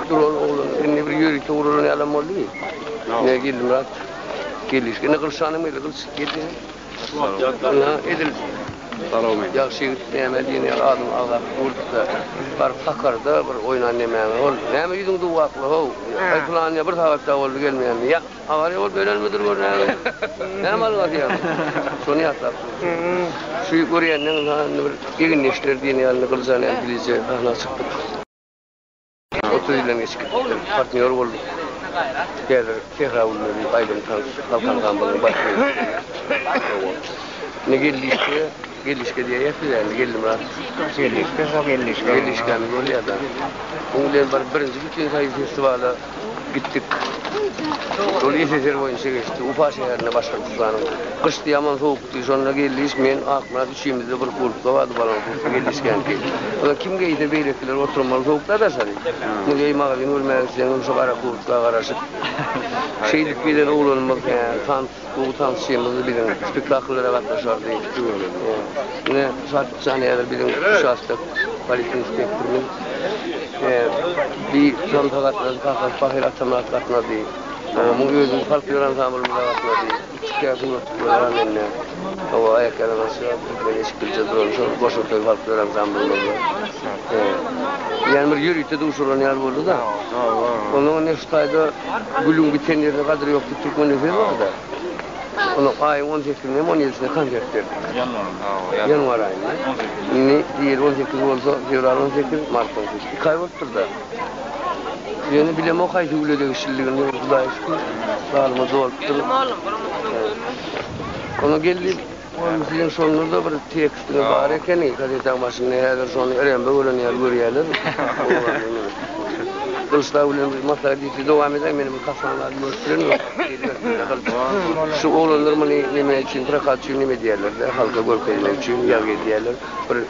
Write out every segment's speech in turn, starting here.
Duran oglan indi bir ýörite uralan ýalam boldy. Ýa gelmýär. Gelýär. Indi gylşanyň bile gylyç gelýär. Ýa edil. Salawmy. Ýagşy ýigit näme diýen ýaly adam agzap gurlupda. Baryp hakarda bir oýnan nämäňe ol. Näme ýüzüň duwakly how. Aý pylan ýa bir sagat da boldy gelmeýändi. Ýa awariýa bolup ölenmidir gör näme. Näme alyň atyýaň. Şony ýatlap durdy. Şu görýänleň indi bir egin-eşler diýen ýaly gylyja näme dilije sahna çykdyk. Otuz ýyldan geçip gitdi. Partnýor bolduk. Häzir Sähra Gülleri aýdym tans halk ansamblynyň baş solisi. Indi geldiş-de, geldiş-de diýýäs biz indi, Geldimyrat. Geldiş-de şo geldiş. Geldiş-dämiz bolýar-da. Munuň bilen bir birinji bütinsoýuz festiwala gitdik. Şol SSR boýunça geçdi. Ufa şäherinde Başgyrtystanyň. Gyşdy, ýaman sowukdy. Şonda geldiş, men, Akmyrat. Üçimizde bir kurtka bardy balaň kurtky gelişgänki. Ony kim geýse beýlekiler oturmaly sowukda daşary. Indi geý magazyn görmäge gitseňem şu gara kurtka garaşyp. Şeýdip gelen oglanymyz hä tans gowy tansçymyzdy biziň. Spektakllara gatnaşardy. Ine Şatlyk jan häzir biziň uçastok polisiýa inspektorymyz. Hä bi tansa gatnaşdy kakasy pahyr atamyrat gatnady. Muň özümiz folklor ansamblymyza gatnady. Türkiýe sungatçylary bar mende. Hawa aýak ýaly başga türkmen eşikgirje duran şol goşa söz halklar ansamblymyzda. Ýani bir ýörite duşuran ýaly boldy-da. Onda indi şu taýda gülüň biten ýerine gadyr ýok diýip türkmende söz bar-da. Onda aýyň on sekizinde hem on ýedisinde konsert berdik. Ýanwaryň hawa ýanwar aýynda. Indi ýeri on sekiz bolsa fewral on sekiz mart on sekiz iki aý bolupdyr-da. Ýöne bilemok haýsy güle degişlidigini ýöne Hudaýa şükür zalyma dolupdyr. Geldim oglum bir umytyň sönmesin. Onda geldi oglum siziň şonda-da bir tekstiňiz bar ekeni gazetäň başynda häzir şony Erenbe gören ýaly görýäler. Gylyçdag bilen bir maslahat edip dowam edäýin meni bir kassan zady görüpdirem ýok diýdiler. Şu oglanlar muny näme üçin prokat üçin näme edýärler-de halka görkezmek üçin ýazgy edýärler. Bir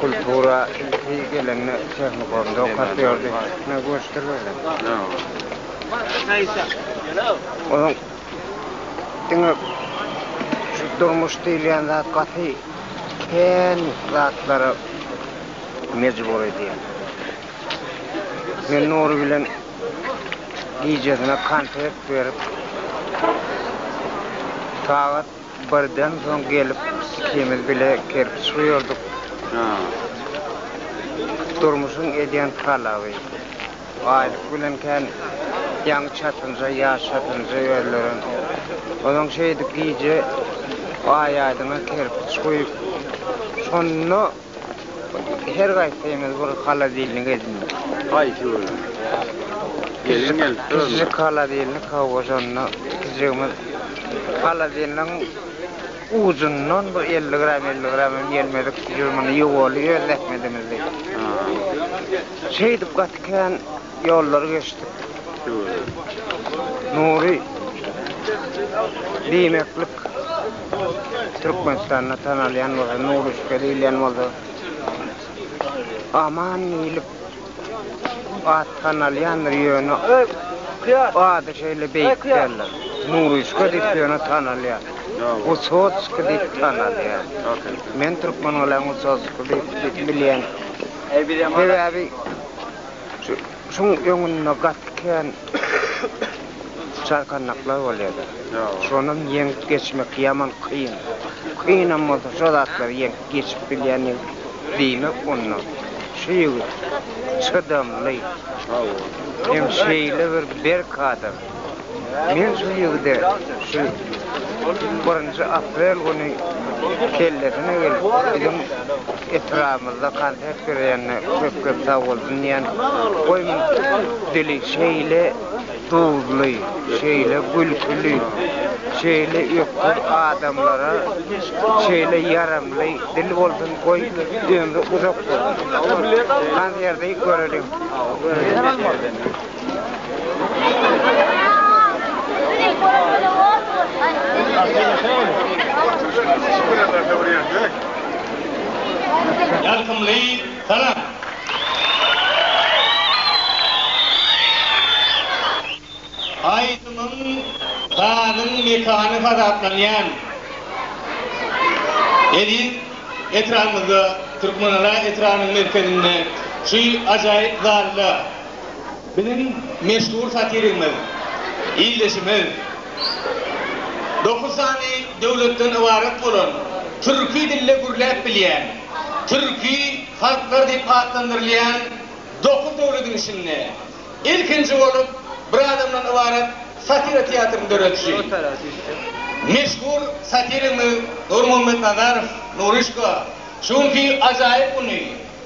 Kultura ilki gelende tehnikumda okap ýördi. Onuň diňe şu durmuş diýilýän zat gaty kän zatlara mejbur edýär. Men Nury bilen gijesine kontrakt berip, sagat Birden soň gelip ikimiz bile kerpiç guýardyk. Durmuşyň edýän talaby. Baýlyk bilen kän ýaňy çatynja, ýaş çatynja ýörleren. Ozaň şeýdip gije aý-aýdyňa kerpiç guýup, şonda Her gaýtsaňyz bir halodilnik edinýär. Haýsy bölüm? Gelin gelip duranda. Kiçijik halodilnik hawa şonda kiçijigimiz halodilnigiň ujundan bir elli gram elli gram hem gelmedik jürmüni ýuwaldy öz zähmedimizdi. Şeýdip gaty kän ýollary geçdik. Nury diýmeklik. Türkmenistanda tanalýan bolsa, Nuruşka diýilýän bolsa, Aman diýlip at tanalýandyr, ýöne ady şeýle beýik däldir. Nuruşka diýip ýöne tanalýar. Wysotskiý diýip tanalýar. Men Türkmengalam Wysotskiý diýip bilýän. Sebäbi şu Şuň öňünde gaty kän çarkandaklar bolýardy. Şonam ýeňip geçmek ýaman kyn. Kynam bolsa şo zatlary ýeňip geçip bilýän ýigit diýmek onda şu ýigit çydamly hem şeýle bir berk adam. Men şu ýigide şu birinji aprel güni kellesine gelip, biziň etrabymyzda konsert berýänine köp-köp sag bolsun diýän. Goý, muň dili şeýle duzly, şeýle gülküli, şeýle öküz adamlara şeýle ýaramly dil bolsun, goý, ömri uzak bolsun. Konserde göreliň. Ýakymly salam! Aýdymyň sazyň mekany hasaplanýan eziz etranyňyzda, Türkmenara etranyň merkezinde, şu ajaýyp zalda, Biziň meşhur satirigimiz, ildeşimiz dokuz sany döwletden ybarat bolan, türki dilde gürläp bilýän, türki halklar diýip atlandyrylýan dokuz döwlediň içinde ilkinji bolup bir adamdan ybarat satira teatryny döredişi, meşhur satirigimiz Nurmuhammet Nazarow, Nuryşka, şu günki ajaýyp güni,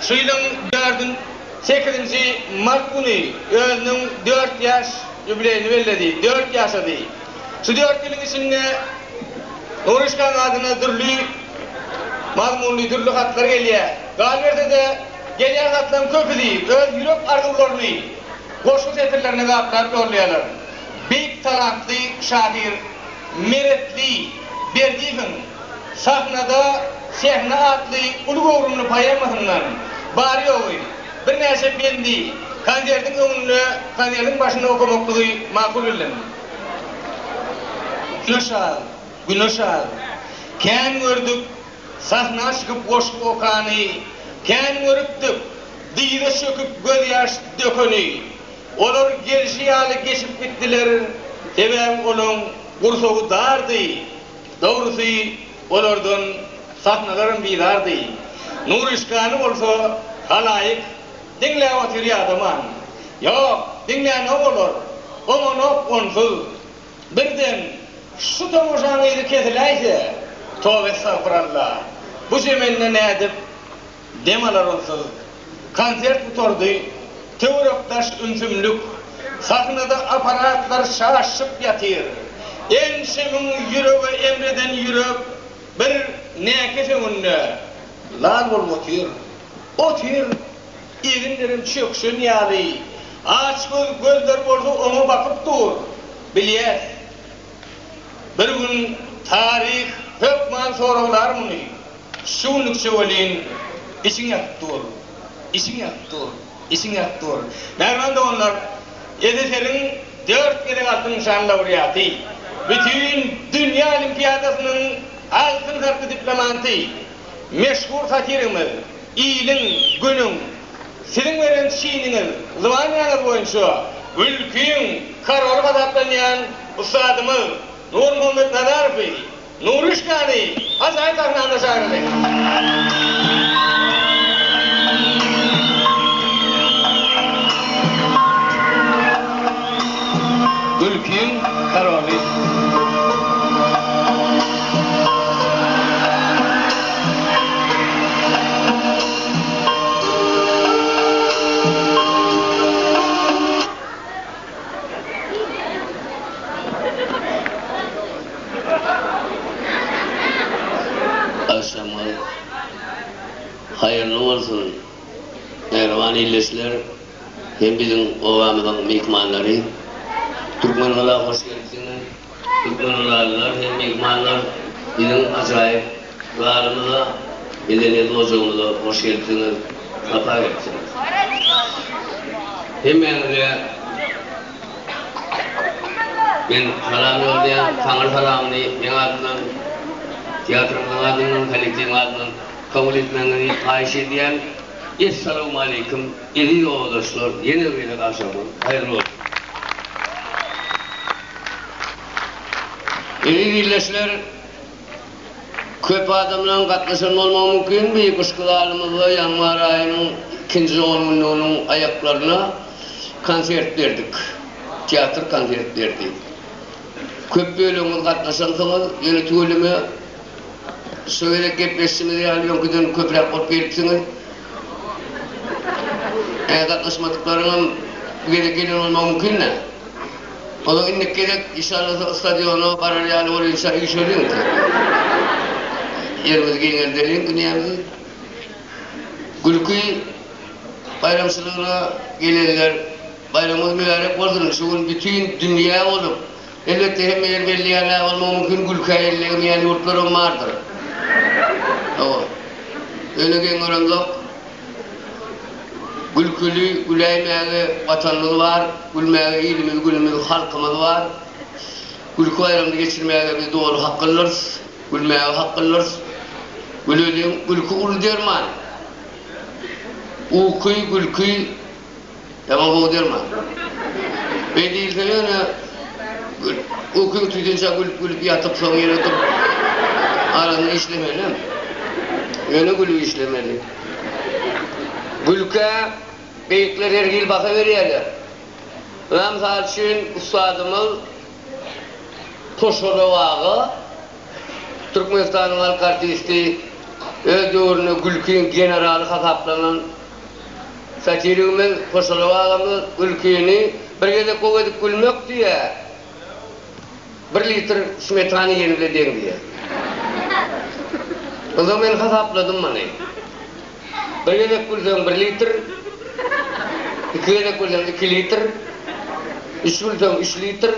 Şu ýylyň dördün sekizinji mart güni özüniň dört ýaş ýubileýini belledi. Dört ýaşady. Şu dört ýylyň içinde Nuryşkanyň adyna dürli mazmunly dürli hatlar gelýär. Galyberse-de, gelýän hatlaryň köpüsi öz ýürek arzuwlaryny goşgy setirlerine gaplap ýollaýarlar. Beýik talantly şahyr Meretli Berdiýewiň Sahnada Sehna atly uly göwrümli poemasyndan bary-ýogy birnäçe bendi konsertiň öňünde konsertiň başynda okamaklygy makul bildim. Güneş al, güneş al, Kän gördük sahna çykyp goşgy okany, Kän görüpdik dyza çöküp gözýaş dökeni, Olar gelşi ýaly geçip gitdiler, sebäbi olaň gursagy dardy, Dogrusy, olardan sahnalaram bizardy. Nuryşkany bolsa halaýyk diňläp otyr ýadaman. Ýok, diňlänok olar. Oňanok onsuz. Birden, Şu tomaşaň yzy kesiläýse, tobaestagpyralla, bu zemende nädip? dem alar onsuz. Konsert gutardy. Töwerek-daş ümsümlik. Sahnada apparatlar şaşyp ýatyr. Ençemiň ýürege emreden ýürek bir näkes öňünde lal bolup otyr. Otyr. Eginlerem çökşen ýaly. Açgöz gözler bolsa oňa bakyp dur. Bilýäs. Bir gün taryh hökman soraglar muny. Şu günlükçe welin içiň ýakyp dur. Içiň ýakyp dur. Içiň ýakyp dur. Mähriban doganlar, SSR-iň dört gezek altyn nyşan laureaty, Bütin dünýä olimpiadasynyň altyn sarykly diplomanty, meşhur satirigimiz, Iliň, Günüň, siziň beren çiniňiz, zwanýaňyz boýunça mülküň koroly hasaplanýan ussadymyz Nurmuhammet Nazarowy, Nuruşkany ajaýyp sahnamyza çagyrdy. Agşamyňyz haýyrly bolsun mähriban ildeşler hem biziň obamyzyň myhmanlary! Türkmengala hoş gelipsiňiz! Türkmenbaşylar hem myhmanlar biziň ajaýyp zalymyza, medeniýet ojagymyza hoş gelipsiňiz, sapa gelipsiňiz. Hemmäňize men salam ýoldaýan, Taňry salamyny meň adymdan, teatrymyzyň adyndan, kollektiwiň adyndan kabul etmegiňizi haýyş edýän. Essalawmaleýkim, eziz obadaşlar, ýene bir gezek agşamyňyz haýyrly bolsun! Eziz ildeşler, köp adamlaryň gatnaşan bolmagy mümkin bu ypyşky zalymyzda ýanwar aýynyň ikinji ongünlüginiň aýaklaryna konsert berdik. Teatr konsert berdi. Köp bölegiňiz gatnaşansyňyz, ýöne tüweleme şu gezek gepleşişimiz ýaly öňküden köpräk bolup gelipsiňiz. Gatnaşmadyklaryňam bu gezek gelen bolmagy mümkin-dä. Olar indiki gezek işanlasa stadiona barar ýaly bolýunça üýşeliň ýekeje. Ýerimizi giňeldeliň dünýämizi. Gülki baýramçylygyna gelenler baýramyňyz mübärek bolsun şu gün bütin dünýä bolup elbetde hemme ýer belli ýaly däl bolmagy mümkin gülkä ellegemeýän ýurtlaram bardyr. Hawa. Öne geň göremzok. Gülküli, güläýmäge Watanymyz bar, gülmäge ilimiz, günümiz, halkymyz bar. Gülki baýramyny geçirmäge biz doly haklydyrys, gülmäge haklydyrys. Güleliň, gülki uly derman. Uky, gülki. Tamam gowy derman. Beý diýilse ýöne ukyň tüýdünçä gülüp gülüp ýatyp soň ýene durup araňy işlemelem. Ýöne gülüp işlemeli. Gülkä beýikler her hili baha berýärler. Ynha mysal üçin ussadymyz Koşarow aga Türkmenistanyň halk artisti öz döwründe gülkiň generaly hasaplanan Satirigimiz Hoşalap agamyz gülkini bir gezek gowy edip gülmek diýýär, bir litr smetana iýeni bilen deň diýýär. Onsoň men hasapladym muny. Bir gezek gülseň bir litr, iki gezek gülseň iki litr, üç gülseň üç litr,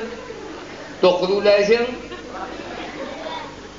dokuz güläýseň,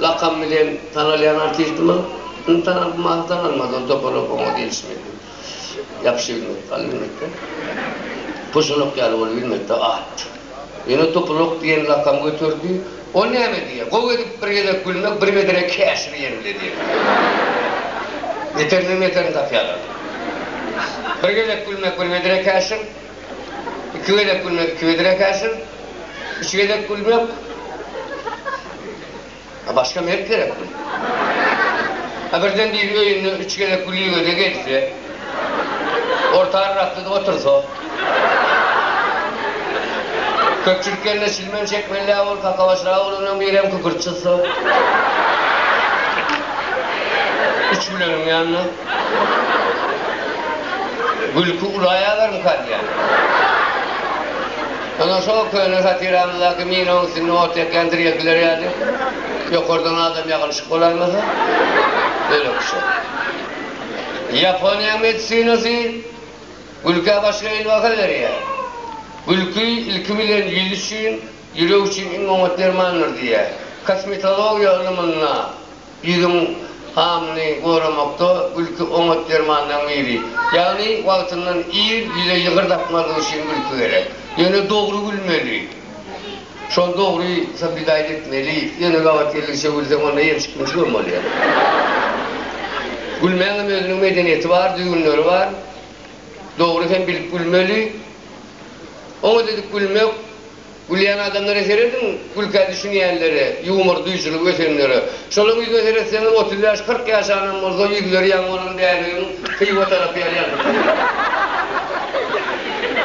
Lakamy bilen tanalýan artistimiz indi tanalyp mahy tanalmadan topalak oňa diýlişi mümkin. Ýapyşy bilmedi, galy bilmedi-de. Puşulak ýaly bolup bilmedi-de at. Ýöne topalak diýen lakam göterdi. Ol näme diýýär? Gowy edip bir gezek gülmek, bir medene käşir ýen bile diýýär. Beterinden beterini tapýarlar. Bir gezek gülmek, bir medene käşir. Iki gezek gülmek iki gezek ekäşir, üç gezek gülmek A başga mert gerekmi? A birden biri öýünde üç gezek güligöze gelse, orta arraklyda otursa, köpçülik gelende çilmen çekmelidä bolup kakabaşraga bolandan birem kükürt çyzsa, üç güleniň ýanyna. Gülki ulaýalarmyka diýýän. Ondan şo köne satiramyzdaky minaň üstünde ot ýakýan drelkiler ýaly, ýokardan adam ýagylyşyp bolaýmasa, öýle kişä. Ýaponiýa medisinasy gülkä başga hili baha berýär. Gülki, ilki bilen, ýüz üçin, ýürek üçin iň oňat dermandyr diýýär. Kosmetologiýa ylymynda. Ýüzüň hamyny goramakda gülki oňat dermanlaryň biri. Ýagny wagtyndan ir ýüze ýygyr dakmazlyk üçin gülki gerek. Ýöne dogry gülmeli. Şol dogry soblidaýt etmeli. Ýöne gabat geldigiçe gülseň onda ýemşik-mimşik hem bolýar. Gülmäň hem özüniň medeniýeti bar, düzgünleri bar. Dogry hem bilip gülmeli. Oňat edip gülmek. Gülýän adamlara serediň, gülkä düşünýänlere, ýumor duýujylygy ösenlere. Şolaň ýüzüne seretseňiz, otuz bäş, kyrk ýaşanam bolsa, ýüzleri ýaňy bolan bäbegiň Hywa tarap ýaly ýalpyldýar.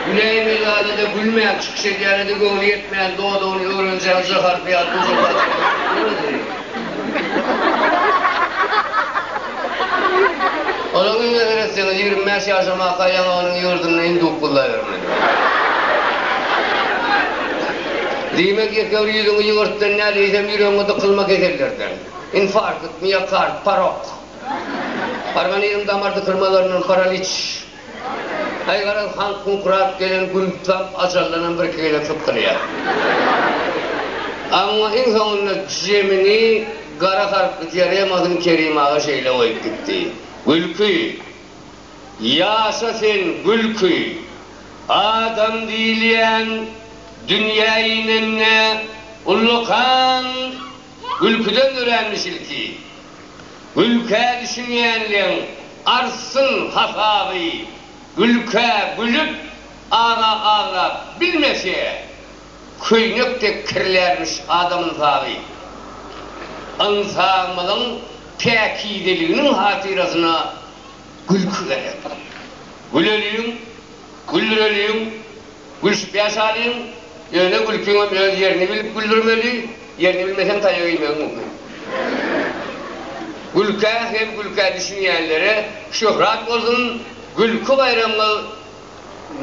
Güläýme zada-da gülmän, çykyş edýäne-de göwni ýetmän, dodagyny öwrenjeň jaharp ýaly gujurdaşyp oturyp bilmezmi? Onuň ümüne seretseňiz, ýigrimi bäş ýaşamaka ýaňy onuň ýurdunda induk gullaýbermeli. Diýmek, ýekeür ýüzüňi ýüňürtden däl, eýsem ýüregiňe dykylma kesellerden. Infarkt, miokard, parok. Organizm damar dykylmalaryndan, paraliç. Aý garaz, han kuňkurap gelen gün tutam ajallanam birki gezek sypdyrýar. Amma iň soňunda jemini gara harply diaremasyny Kerim aga şeýle goýup gitdi, Gülki! Ýaşa sen, Gülki! Adam diýilýän dünýä inende ullakan Gülküden öränmiş ilki. Gülkä düşünýänleň artsyn hasaby, gülkä gülüp, agra agrap bilmese, köýnek dek kirlärmiş adam ynsaby. Ynsabymyzyň päkizeliginiň hatyrasyna gülki gerek. Güleliň, gülreliň. Gülşüp ýaşalyň, ýöne gülkiňem öz ýerini bilip güldürmeli, ýerini bilmeseň taýak iýmegiň mümkin. Gülkä hem gülkä düşünýänlere şöhrat bolsun, gülki baýramyňyz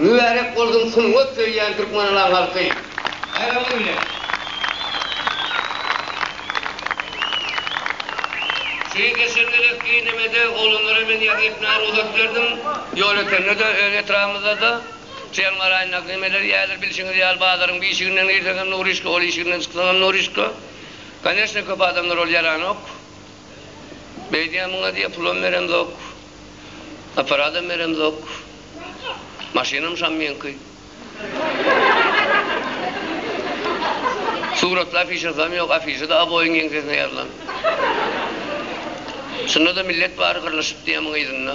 mübärek bolsun sungat söýýän Türkmenalaň halky! Baýramyňyz bilen! Şeýle geçen gezek Eýnemede oglanlara men ýazy etmäge rugsat berdim, ýol ötende-de, öz etrabymyzda-da. Çeýem garaýyn, nagnemeler ýaýylar, bilşiňiz ýaly, bazaryň bişiginden girseň hem nurişka, ol işiginden çyksaň hem nurişka. Koneşne, köp adamlar ol ýaranok. Beýdýän muňa diýýär, pulam beremzok, apparadam beremzok, maşynam şam meňki. Suratly afişasam ýok, afişa-da aboýyň ýeňsesine ýazylan. Şunda-da millet bary gyrlyşyp diýýär muňa yzynda.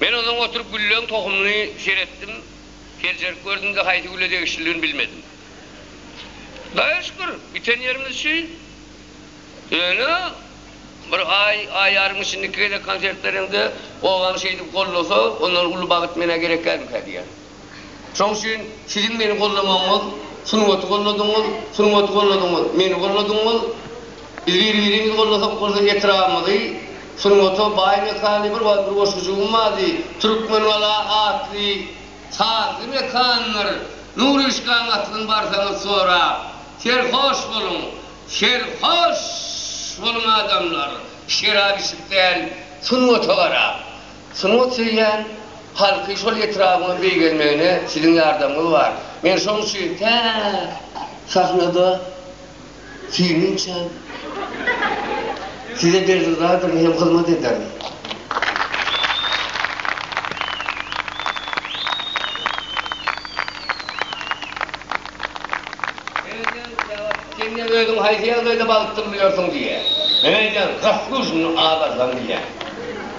Men onsoň oturyp gülleň tohumyny seretdim, seljerip gördüm-de haýsy güle degişlidigini bilmedim. Daýa şükür, biten ýerimiz şu. Ýöne bir aý, aý ýarym içinde iki gezek konsert bereňde, obaň şeýdip goldasa, ondan uly bagt menä gerek dälmikä diýýän. Şoň üçin siziň meni gollamagyňyz, sungaty golladyňyz, sungaty golladyňyz, meni golladyňyz. Biz bir-birimizi gollasak bolsa etrabymyzy sungata baý mekany bir wagt bir goşgujygym bardy, Türkmengala atly sazly mekandyr. Nuryşkanyň aslyn barsaňyz sorap, serhoş boluň, serhoş boluň adamlar, şerap içip däl, sungata garap. Sungat söýýän halky şol etrabyňa beýgelmegine siziň ýardamyňyz bar. Men şoň üçin tä sahnada süýnünçäm size berdyrdadyryn hem hyzmat ederin. Memejan Jawad, sen ne özüň haýsy ýagdaýda balykdyr bilýärsiň diýýär. Memejan, Zaslujnyny azarsam diýýär.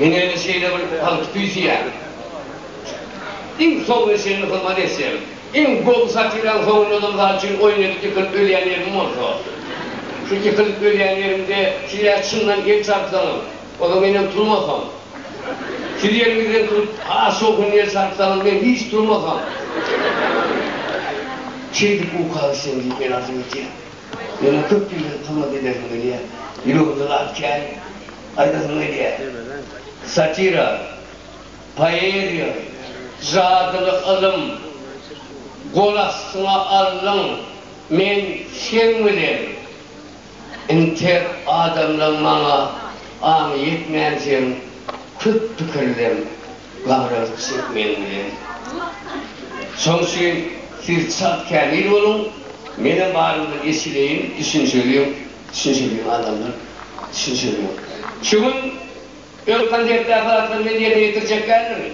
Men öýüne şeýle bir palty küýseýärin. Iň soňuna çenli hyzmat etsem, iň gowy satyran howunladam zat üçin oýun edip ýykylyp ölýän ýerim bolsa. Şu ýykylyp ölýän ýerimde siz ä çyndan el çarpsaňyz, ozal menem turmasam. Siz ýeriňizden turup has şowhunly el çarpsaňyz, men hiç turmasam. Şeýdip uka gitseň diýip men arzuw etýän. Meniň köp ýyldan hyzmat ederim gelýä. Ýüregimde zat kän. Gaýdysyny edýär. Satira, poeziýa, jadyly ylym, gol astyňa aldyň, men seň bilen. Inter adamlaň maňa aňy ýetmänsiň, köp pikirleň, gabyragyz çek meň bilen. Şoň üçin siz çalt kämil boluň, menem barymdan eşideýin, düşünşeliň. Düşünşilmiň adamlar düşünşilmiň. Şu gün öz konsertde aparatlary bilen ýerine ýetirjek däldirmi?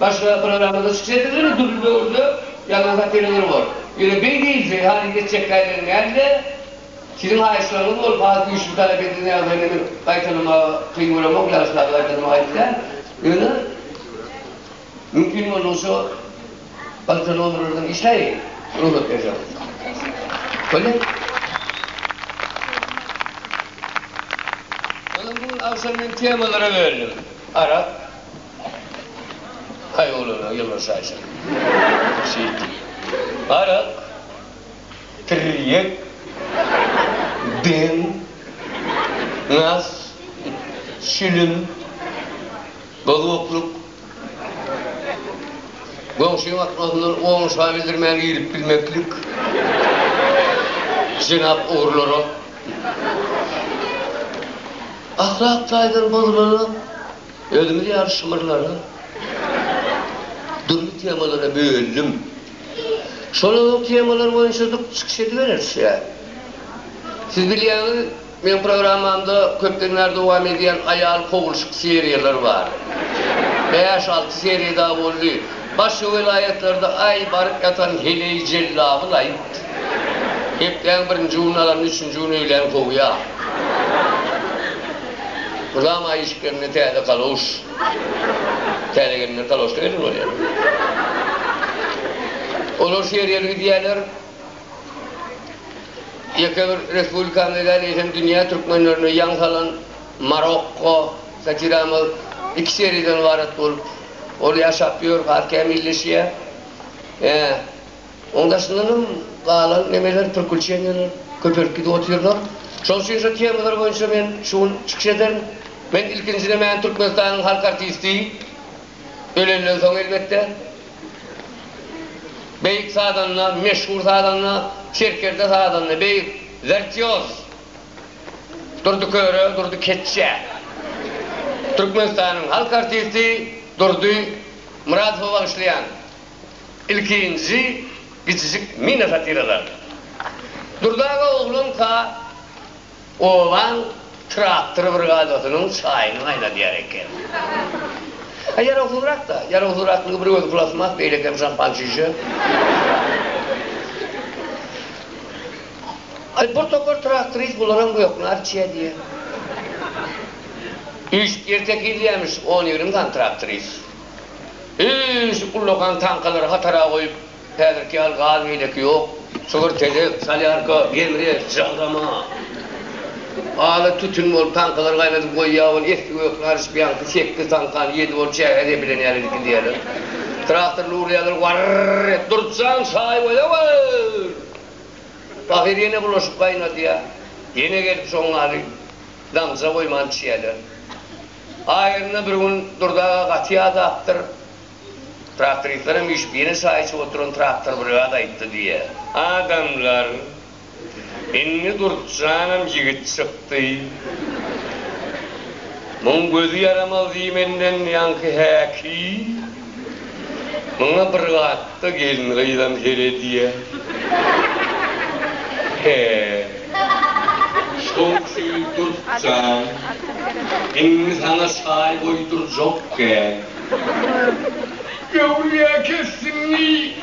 Başga programmada çykyş edilirmi dürli döwürde ýalňyz operator bor. Ýöne beý diýilse haýyş etjek taýdan dälde, siziň haýyşlaryňyz bolup has güýçli talap edilýän ýagdaýda meni gaýtalamaga kyn göremok, ýagyşlarda gaýtalamaga aýyp däl. Ýöne. Mümkin boldugyça galta nomerlerden işleýin, rugsat berýän bolsa. Bolýa? Ýöne bu gün agşam men temalara berdim. Arak, haý oglana ýylgyryş şaýşyň. Şeýtdi. Arak, tirýek, ben, nas, şilim. Bozgukluk, goňşy gatnasyndan oňşa bildirmän girip bilmeklik, jenap ogrulara, ahlak taýdan bozulara, özümiz ýaly şymyrlara, dürli temalara bölündim. Şolaryň temalary boýunça-da çykyş edibereris ýa. Siz bilýäňiz, Meň programmamda köpden bäri dowam edýän aýal kowulşyk seriýalar bar. Bäş-alty seriýa dagy boldy. Başga welaýatlarda aý baryp ýatan heleý jellaby laýyk. Hepdäň birinji gününi alanda üçünji gün öýlän kowýa. Mydama aý işip gelende täze kaloş. Täze gelinler kaloşda gelin bolýar. Olar seriýaly gidýärler. Ýeke bir respublikamyz däl, eýsem dünýä türkmenlerini ýaň salan Marokko satiramyz iki seriýadan ybarat bolup, ol ýaşap ýör, has kämilleşýär. Ýa, oň daşyndan hem galan nemeler, prikuçeniýalar köpelip gidip otyrlar. Şoň üçin şo temalar boýunça men şu gün çykyş ederin. Men ilkinjiden mäni Türkmenistanyň halk artisti, ölenden soň elbetde. Beýik sazanda, meşhur sazanda, serkerde sazanda, beýik wirtýoz Durdy Köre, Durdy Keçje. Türkmenistanyň halk artisti Durdy Myradowa bagyşlaýan ilkinji Kiçijik mina satiralary. Durdy aga oglanka. Obaň traktor brigadasynyň çaýyny gaýnadýar eken. A ýarawsyzrak-da. Ýarawsyzraklygy bir özi plastmas, beýlekem şampan çişe. Aý, bir topar traktorist bularam göknä arçýa diýýär. Üýşüp ýertek ýylýamiş on-ýigrimi sany traktorist. Üýşüp ullakan tankalary hatara goýup, Häzirki ýaly gaz beýleki ýok. Çygyr tezek, solýarka, gemri, žagrama. Ala tütün bolup, taňkalar gaýnadyp goýýar, ol esli gökli aryşpýaňky sekiz taňkany ýedi bolup çägä zepilen ýaly edip gidýärler. Traktorly urýarlar, warr-r-r et, Durkjan, çaý goýawr! Pahyr ýene bulaşyk gaýnadýar. Ýene gelip şoň ýaly damja goýman içýärler. Aýryna bir gün Durdy aga gaty ýadapdyr. Traktoristleriň üýşüp ýene çaý içip oturan traktor brigada aýtdy diýýär. Adamlar, Indi Durtjanam ýigit çykdy. Muň gözi ýaramaz diýmenden ýaňky häki, muňa bir gatda gelin-gyzam seredýä. He. Şol üçin Durtjan, indi saňa çaý goýdurjak kän. Göwrä kesdiňmi?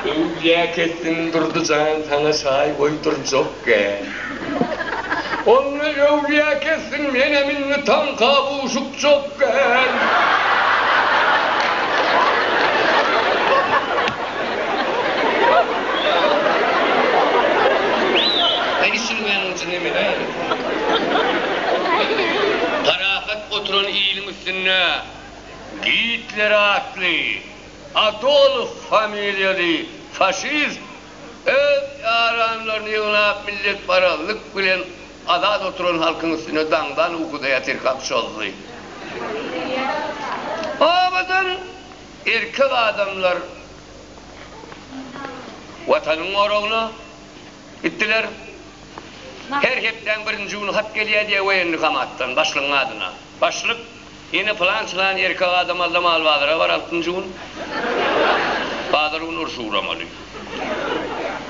Göwrä kesdim Durdy jan saňa şaý goýdurjakgä. Onda göwrä kesdiň menem indi taňka buşukjakgän. Üstünde Gitler atly Adolf familiýaly faşist öz ýaranlaryny ýygnap milletparazlyk bilen azat oturan halkyň üstüne daňdan ukuda ýatyrkak çozdy. Obadan erkek adamlar Watanyň goragyna gitdiler. Her hepdäň birinji güni hat gelýär diýýär woýenni komatdan, başlygyň adyna. Başlyk, Ine pylan-çylan erkek adam Alla malbazara bar altynjy gün. Bazar güni urşa ugramaly.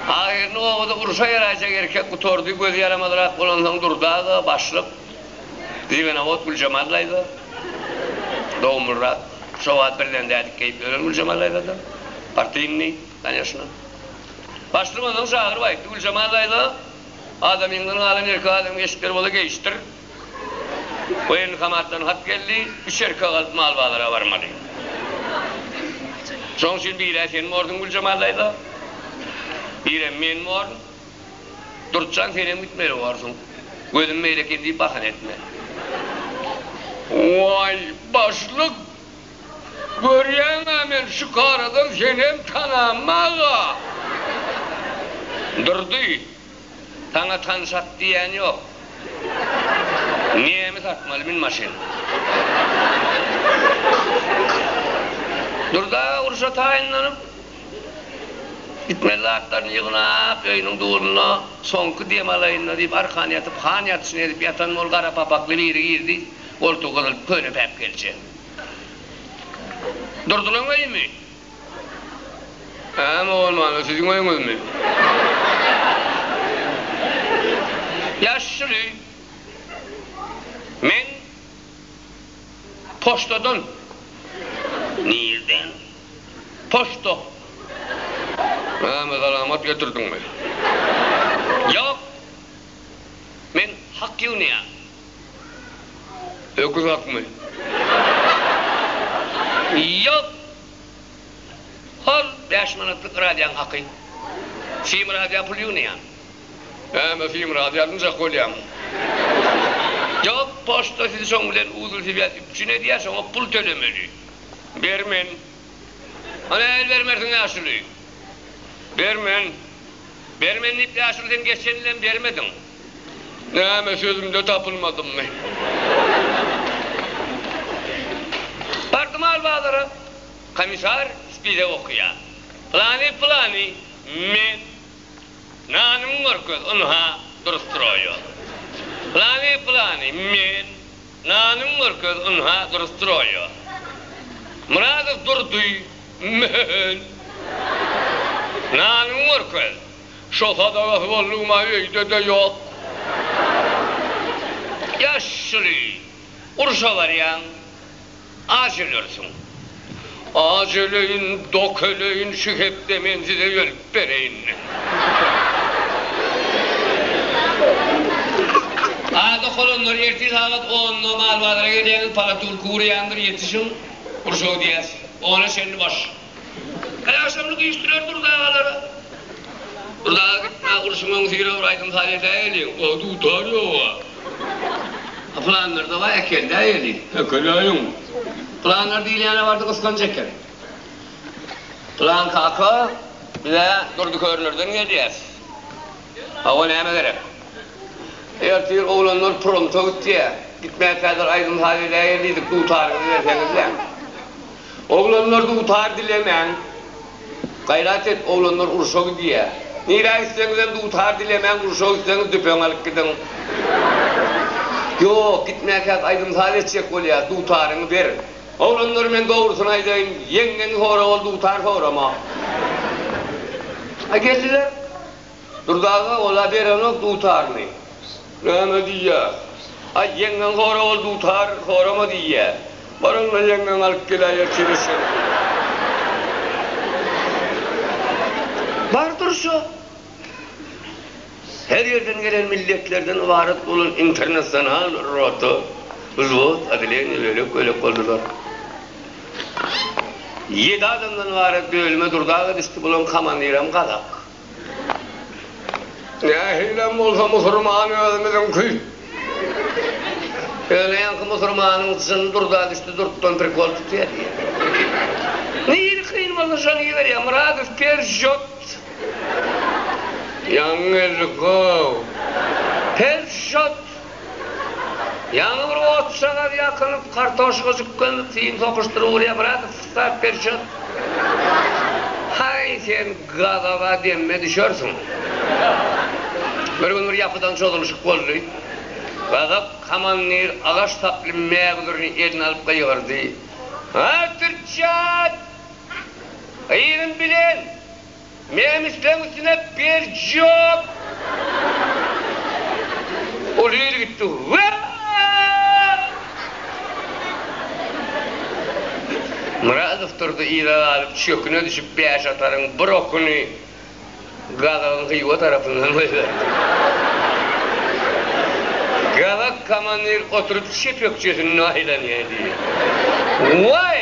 Ahyryny obada urşa ýaraýjak erkek gutardy, gözi ýaramazrak bolansoň Durdy aga, başlyk, Zibenawod Güljemal daýza, dogumlyrak, şo wagt birden dädikk geýip ýören Güljemal daýzadan, partyýnnyý, kanýeşna. Başlyk onsoň çagyryp aýtdy, Güljemal daýza, adamyňdan galan erkek adamyň eşikleri bola geýişdir. Woýenkomatdan hat geldi, üç erkek alyp mal bazara barmaly. Şoň üçin bir-ä sen borsuň Güljemal daýza, birem men born. Durtjan senem gitmeli borsuň. Gözüm beýle eken diýip bahana etme. Waý, başlyk, görýäň-ä men şükaradan senem tanammaga. Durdy. Saňa tan sat diýýän ýok. Nemi satmaly min maşyn. Durdy aga urşa taýynlanyp gitmeli zatlaryny ýygnap öýüniň durunda soňky dem alaýynda diýip arkan ýatyp han ýatyşyny edip ýatan bol gara papakly biri girdi orty gyzyl köne päpgelçe. Durdynyň öýümi? Äm bolmanda siziň öýüňizmi? Ýaşyl öý. Men poçtadan. Nirden? Poçta. Äm salamat getirdiňmi? Ýok. Men hak ýygnaýan. Öküz akmy? Ýok! Hol bäş manatlyk radioň haky. Sim radioň puly ýygnaýan. Äme sim radio alynjak bolýan. Ýok, poçta sizi şoň bilen uzylswýaz üpjün edýär, şoňa pul tölemeli. Bermen. A nähili bermersiň ýaşuly? Bermen. Bermen diýip ýaşuly sen geçen ýylem bermediň. Näme, sözümde tapylmadymmy? Bardym Albazara. Komissar spize okaýar. Pylany, pylany, men. Nanyňy görkez, ynha, dur stroýa. Pylany, pylany, men. Nanyňy görkez, ynha, dur stroýa. Myradow Durdy, men. Nanyňy görkez. Şo sadagasy boldugyma öýde-de ýok. Ýaşuly, urşa barýaň, aç ölersiň. Aç öleýin, dok öleýin, şu hepde men size ölüp bereýin. Aý, dok olanlar, ertir sagat onda mal bazara gelýäňiz, palatulka gurýandyr, ýetişiň, urşa gidýäs. Ona çenli boş. Äşamlyk iş bilen Gurt agalara. Gurt aga gitme urşumaň syra bir aýdym saz edäýeli. A dutar ýoga. A planlarda bar äkeldäýeli. Äkeläýiň. Planlar diýilýäne bardy gysganç eken. Plan kaka biz-ä Durdy Körnerden gelýäs. Hawa näme gerek. Ertir oglanlar promta gitýä. Gitmän häzir aýdym saz edäýeli diýdik dutaryňyzy berseňizle. Oglanlar dutar dilemäň. Gaýrat et oglanlar urşa gidýä. Nirä gitseňizem dutar dilemäň urşa gitseňiz düpeňi alyp gidiň. Ýok gitmäkäk aýdym saz etjek bolýas dutaryňy ber. Oglanlar men dogrusyny aýdaýyn ýeňňeňi sora ol dutar sorama. A geldiler. Durdy aga ol-a berenok dutaryny. Näme diýýä? Aý, ýeňňeň sora ol dutar sorama diýýä. Bar onda ýeňňeň alyp geläýe çirişeň. Bardyr şo. Her ýerden gelen milletlerden ybarat bolan internasional rota, wzwod, oddeleniýe bölek-bölek boldular. Ýedi adamdan ybarat bölüme durdaga düşdi, bularyň komandiram gazak. Nähilem bolsa musurman özümiziňki. Öňleýänki musurmanyň jyny durda düşdi, durtdan prikol tutýa diýýä. Nirä kyn bolsa şony iberýä, Myradow per žot. Ýaňy geldik-ow. Per žot. Ýaňy bir otjagaz ýakylyp, kartoşka jüklenip, film sokuşdyr Uliýa Bratow start perçot. Haý, sen gazawa demme düşersiň. Bir gün bir ýapydan çozulyşyk boldy. Gazak komandir agaç saply mägüzürini eline alyp gygyrdy, Haý, perçot! Gyzyň bilen! Nemisleň üstüne Beljiok! Uly il gitdi. Myradow durdy yza galyp çöküne düşüp bäş ataryň bir okuny Gazagyň Hywa tarapyndan goýberdi. Gazak komandir oturyp çep ökjesinde aýlanýa diýdi. Waý!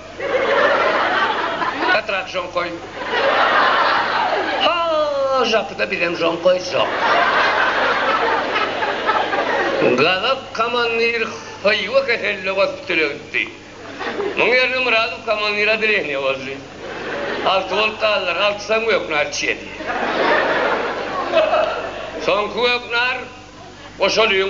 Petrak žonkoý. Ha, žapyda bizem žonkoý žap. Gazak komandir Hywa keselli gospitale gitdi. Muň ýerine Myradow komandir odeleniýa boldy. Alty bolup galdylar, altysam göknar içýedi. Soňky göknar goşalyň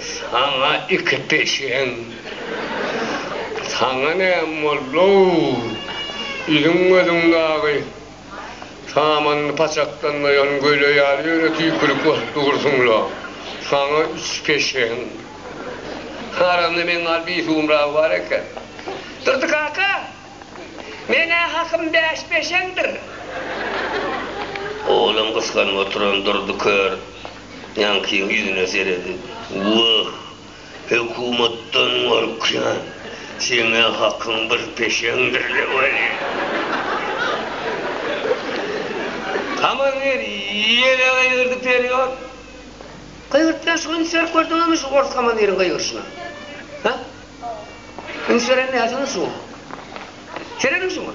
Saňa iki peşeň. Saňa näme boldy-ow? Iliň gözüň dagy samanyny paçaklanmaýan göle ýaly ýöne tüýkülik bolup dursuň-la. Saňa üç peşeň. Aramda meň gal bir suwumragy bar eken. Durdy kaka, men-ä hakym bäş peşeňdir. Oglum gysganyp oturan Durdy kör. Ýaňkyň ýüzüne seredip, Wah, hökümetden gorkýan, seň-ä hakyň bir peşeňdir-le weli! Haman ger ýene gygyrdy perýot. Gygyrypdan soň üns berip gördüňizmi şu ors komandiriň gygyryşyna? Hä? Üns berendiňiz-ä şoňa. Serediň şoňa.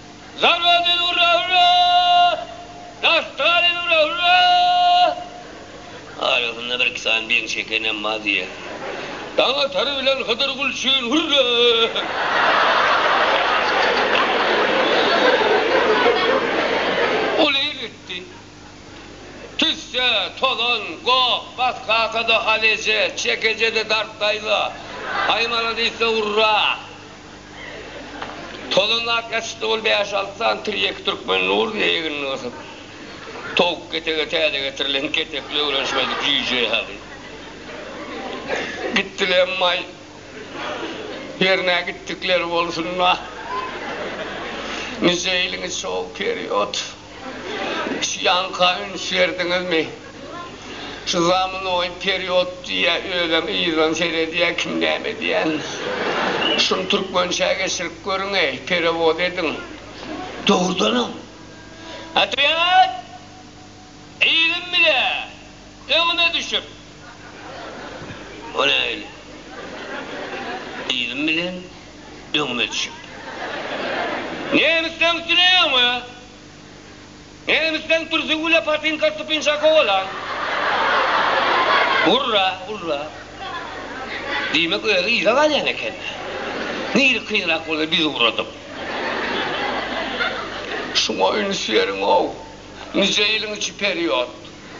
Zarbabil urra urra Naftalin urra urra Arasynda bir iki sany beýiň çekenem bar diýýär. Daňatar bilen Hydyr Gulçin hurra! Ol ir gitdi. Tüsse, tozan, gop, bas kakada hal eje, çek eje-de dart daýza. Haý maladis-de urra! Tozanlap ýatyşdy ol bäş-alty sany tirýek türkmen nuruna egnini gysyp. Towuk ketege täze getirilen ketekli öwrenişmedik jüýje ýaly. Gitdiler emma-aý, ýerine gitdikleri bolsun-da. Nijeýliňiz şol, period? Şu ýanka üns berdiňizmi? Şu zamunoý period diýýä, özem yzdan seredýä kim näme diýän. Şuny türkmençä geçirip görüňeý, perewod ediň. Dogrudanam. Otwýet! Ýigim bile öňüme düşüp. O nähili? Ýigim bilen? öňüme düşüp. Nemisden süreňňe, nemisden pürsi güle patinka stupinşaka bolan. Urra, urra. Diýmek, özi yza galýan eken-dä. Nirä kynrak bolsa biz ugradyk. Şuňa üns beriň-ow. Nije ýylyň içi period.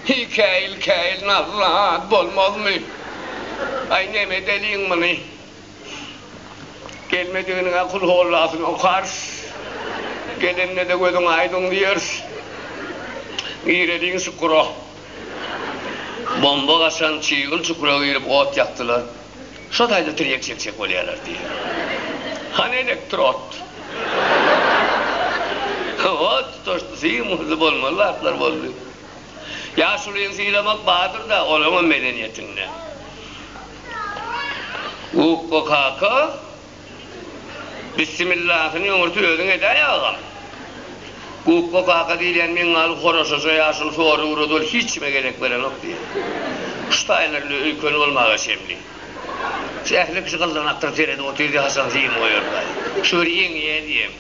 Hikaýyl-käýil nazly zat bolmazmy? Aý, nemedeliň muny? Gelmediginiňe kul hollasyny okarys. Gelende-de gözüň aýdyň diýeris. Gireliň çukura. Bomba gaçan çygyl çukura girip ot ýakdylar. Şo taýda tirýek çekjek bolýarlar diýýär. Hany elektrod? Hawa, tutaşdy, symyzy bolmaly zatlar boldy. Ýaşulyny sylamak bardyr-da, olaňam medeniýetinde. Ukko kaka bissimillahyny öňürti özüň edäý agam. Ukko kaka diýilýän meňňaly horaşaja ýaşuly sory ugrady ol hiç kime gezek berenok diýýä. Şu taýlarynda öýkeni bolmaga çemli. Şu ähli kişi gyldanakdyr seredip otyrdy haçan film goýardaý. Şu bir ýeňýä diýem.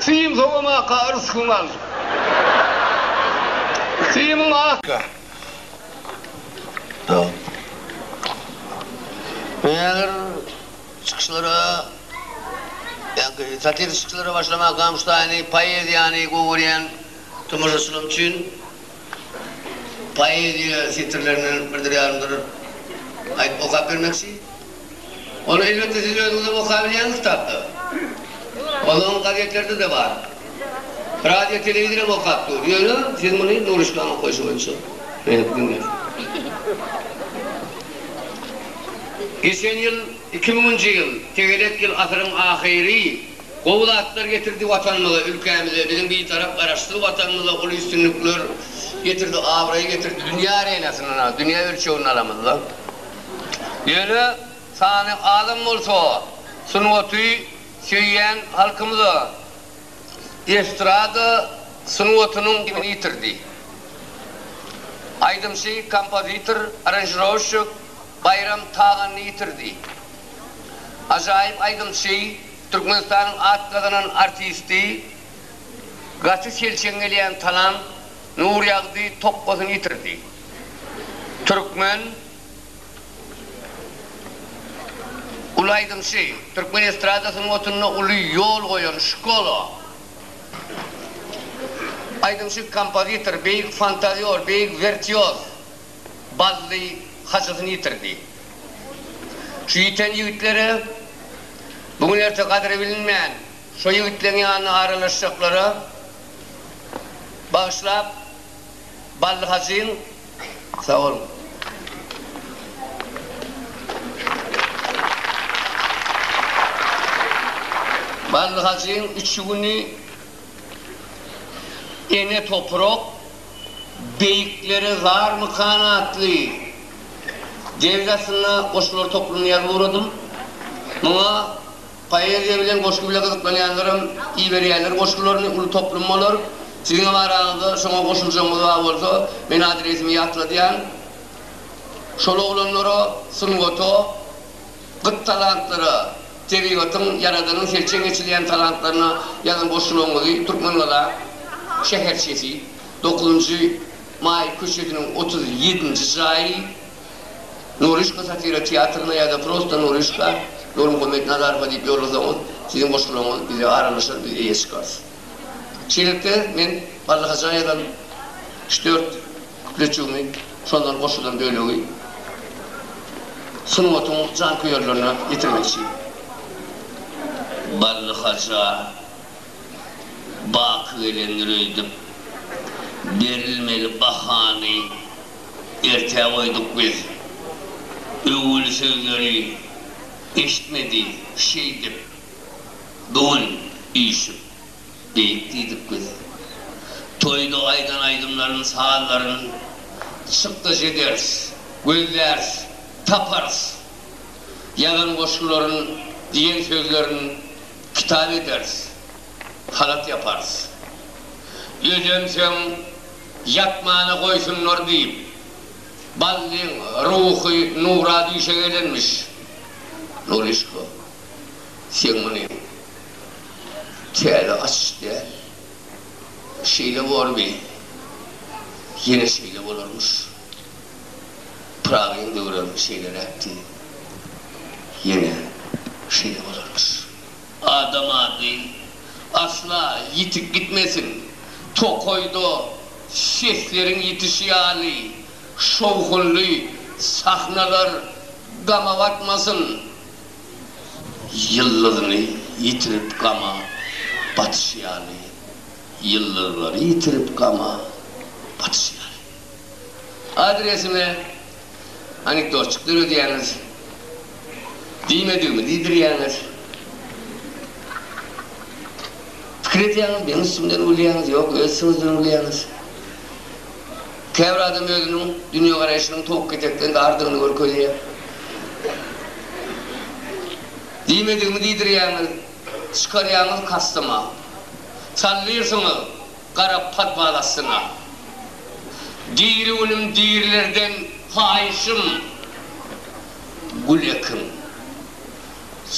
Syn sowamaka ryskyň al. Synyň asla. Mähir çykyşlara ýa-da satiriki çykyşlara başlamak gamyşlaýyny, poeziýany gowy görýän tomaşaçylarym üçin. poeziýa setirlerinden birdir ýarymdyr aýdyp okap bermekçi. Ol elbetde siz özüňizem okabilýäňiz kitapda. Ozal gazetlerde-de bar. Radio telewizoram okap dur. Ýöne siz muny Nuryşkanyň okaýşy boýunça beýnip diňläň. Geçen ýyl, iki müňünji ýyl, tegelek ýyl asyryň ahyry. Gowy zatlar getirdi Watanymyza, ülkämize, biziň Bitarap Garaşsyz Watanymyza uly üstünlikler getirdi, abraý getirdi. Dünýä arenasynda, dünýä ölçeginde alamyzda. Ýöne sany azam bolsa, sungaty söýýän halkymyza estrada sungatynyň kimini ýitirdi. Aýdymçy, kompozitor, aranžirowşçik Baýram Taganny ýitirdi. Ajaýyp aýdymçy, Türkmenistanyň at gazanan artisti, gaty selçeň gelýän talant Nurýagdy tokgasyny ýitirdi. Türkmen uly aýdymçy, türkmen estrada sungatynda uly ýol goýan şkola aýdymçy, kompozitor, beýik fantazýor, beýik wirtýoz. Bally haçasyny ýitirdi. Şu ýiten ýigitlere, bu gün-erte gadyry bilinmän şo ýigitleň ýanyna aralaşjaklara bagyşlap, Bally hajyň Sag boluň. Bally hajyň üçügini ene toprak, Beýiklere zarmykan atly dergi astynda goşgular toplumyny ýazyp ugradym. Muňa poeziýa bilen goşgy bile gyzyklanýanlaram iberýärler goşgularyny, uly toplum bolar. Siziňem araňyzda şoňa goşuljagyňyz bar bolsa, men adresimi ýatladýan. Şol oglanlara, sungata, Gyt talantlara, tebigatyň, Ýaradanyň selçeň geçilýän talantlaryna ýazan goşgularyňyzy Türkmengazak şäherçesi, dokuzynjy maý köçesiniň otuz ýedinji jaýy, Noryşka satira teatryna ýa-da prosta Noryşka, Nurmuhammet Nazarowa diýip ýollasaňyz, siziň goşgularyňyz bize aralaşar, biz eýe çykarys. Şeýlelikde, men Bally Hojaýadan üç-dört. Kütleçigimiz şondan goşulan bölegi sungatyň janköýerlerine ýetirmekçi. Bally Haja baky gelendir öýdüp, berilmeli bahany ertä goýduk biz. Öwül sözleri eşitmedi şeýdip, bu gün üýşüp. Beýik diýdik biz. Toýda aýdan aýdymlaryny, sazlaryny çykdaş ederis, gözläris, taparys. Ýazan goşgularyny, diýen sözlerini kitap ederis, halat ýaparys. Özemsoň ýatmana goýsunlar diýip, Ballyň ruhy nura düýşe gelenmiş. Nuryşko. Sen muny täze açyş däl. Şeýle bormy? Ýene şeýle bolarmyş. Pyragyň döwrem şeýleräkdi. Ýene şeýle bolarmyş. Adam ady asla ýitip gitmesin. Tokaýda sesleriň ýitişi ýaly şowhunly sahnalar gama batmasyn. Ýyldyzyny ýitirip gama batyş ýaly, Ýyldyzlary ýitirip gama batyş ýaly. Adresime anekdotjyk döredýäňiz, diýmedigimi diýdirýäňiz. Pikir edýäňiz, meň üstümden gülýäňiz, ýok öz üstüňizden gülýäňiz. Käbir adam özüniň dünýegaraýşynyň towuk ketekden dardygyny görkezýär. Diýmedigimi diýdirýäňiz, çykarýaňyz kastyma. Çaldyrsyňyz gara podwal astyna. Diri günüm dirilerden haýyşym, gül ekiň.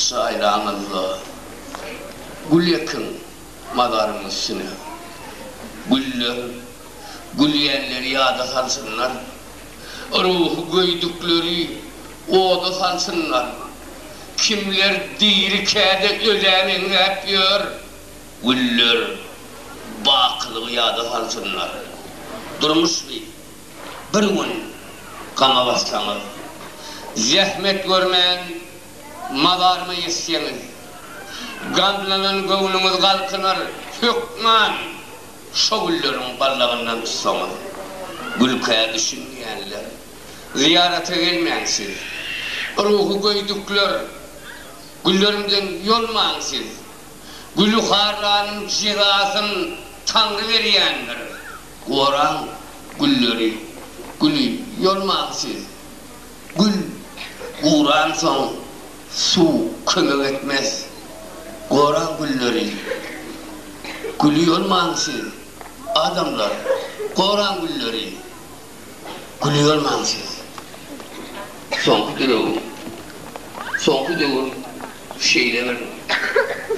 Çaýlaňyzda gül ekiň mazarymyň üstüne. Güller. Gülýänleri ýada salsynlar, Ruhy göýdükleri oda salsynlar. Kimler diri käde ölä meňzäp ýör, Güller bakylygy ýada salsynlar. Durmuşmy, bir gün gama batsaňyz, Zähmet görmän mazarma ýetseňiz. Gamlanan göwnüňiz galkynar hökman. Şo gülleriň ballagyndan tutsaňyz, gülkä düşünmeýänler, zyýarata gelmäň siz! Ruhy göýdükler, güllerimden ýolmaň siz! Güli harlanyň jezasyn Taňry berýändir! Goraň gülleri, güli ýolmaň siz! Gül guransoň suw kömek etmez. Goraň gülleri. Güli ýolmaň siz, adamlar, goraň gülleri. Güli ýolmaň siz. Soňky döwür, soňky döwür şeýle bir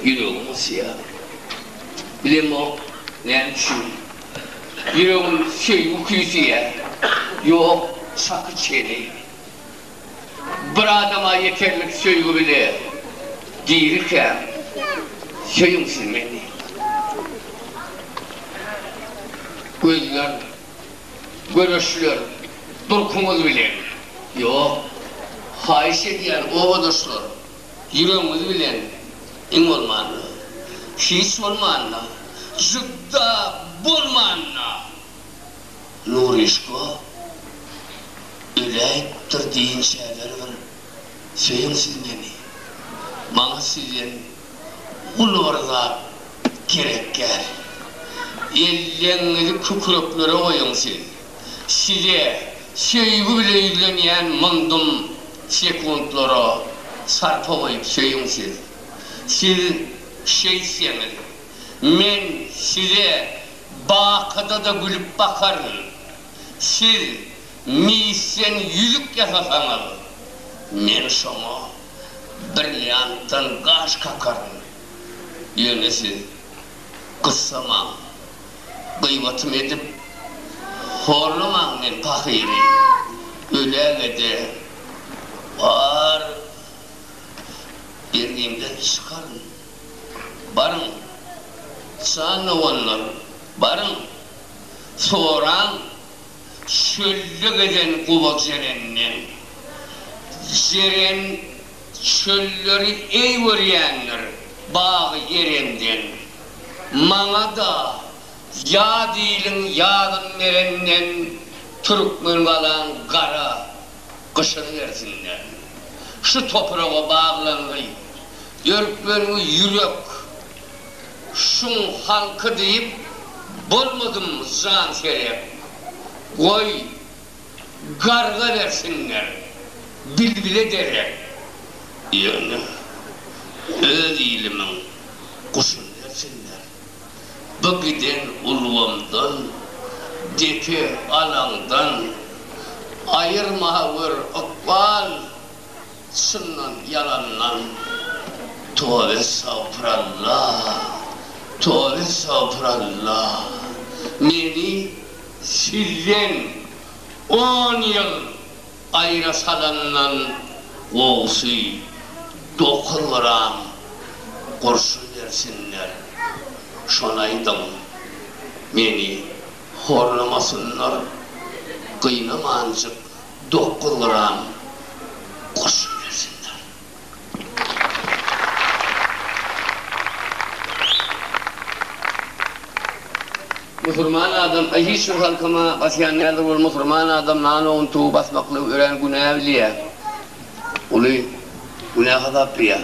ýüregim gysýar. Bilemok näme üçin. Ýüregim söýgi küýseýär, ýok şaky çeni. Bir adama ýeterlik söýgi bile dirikäm, söýüň siz meni. Gözler, göreşler durkuňyz bilen, ýok, haýyş edýän obadaşlar, Ýüregiňiz bilen iň bolmanda, hiç bolmanda, jübda bolmanda Nuryşka öläýipdir diýinçäler bir söýüň siz meni. Maňa sizden uly bir zat gerek däl. Elleňňizi kükreklere goýuň siz. Size söýgi bilen ýüzlenýän mundum sekuntlara sarpa goýup söýüň siz. Siz şeýtseňiz, men size bakyda-da gülüp bakaryn. Siz misden ýüzük ýasasaňyz, men şoňa brilliantdan gaş kakaryn. Ýöne siz gyssamaň. gybatym edip, horlamaň men pahyry, öläge-de bar bergimden çykaryn. Baryň, jan doganlar, baryň, soraň çölde gezen guba jerenden, jeren Çölleri eý görýändir bagy Erenden, Maňa-da ýaz iliň ýazyn berenden, Türkmen galaň gara gyşyny bersinden. Şu topraga baglangy, örklengi ýürek şuň halky diýip, Bolmadym jan serek, goý, Garga bersinler, bilbile derek. Ýöne öz ilimiň guşuny bersinler. Bu giden ulgamdan, depe alaňdan aýyrma gör ykbal çyndan ýalandan. Toba estagfuralla, toba estagfuralla, meni. Sizden on ýyl aýra salandan gowusy dokuz gram gurşun bersinler, şony aýdyň. Meni horlamasynlar, gynamanjyk dokuz gram gurşun bersinler. Musurman adam aý hiç bir halkama basýan däldir ol musurman adam nano untugy basmaklygy örän günä bilýä uly günä hasaplaýa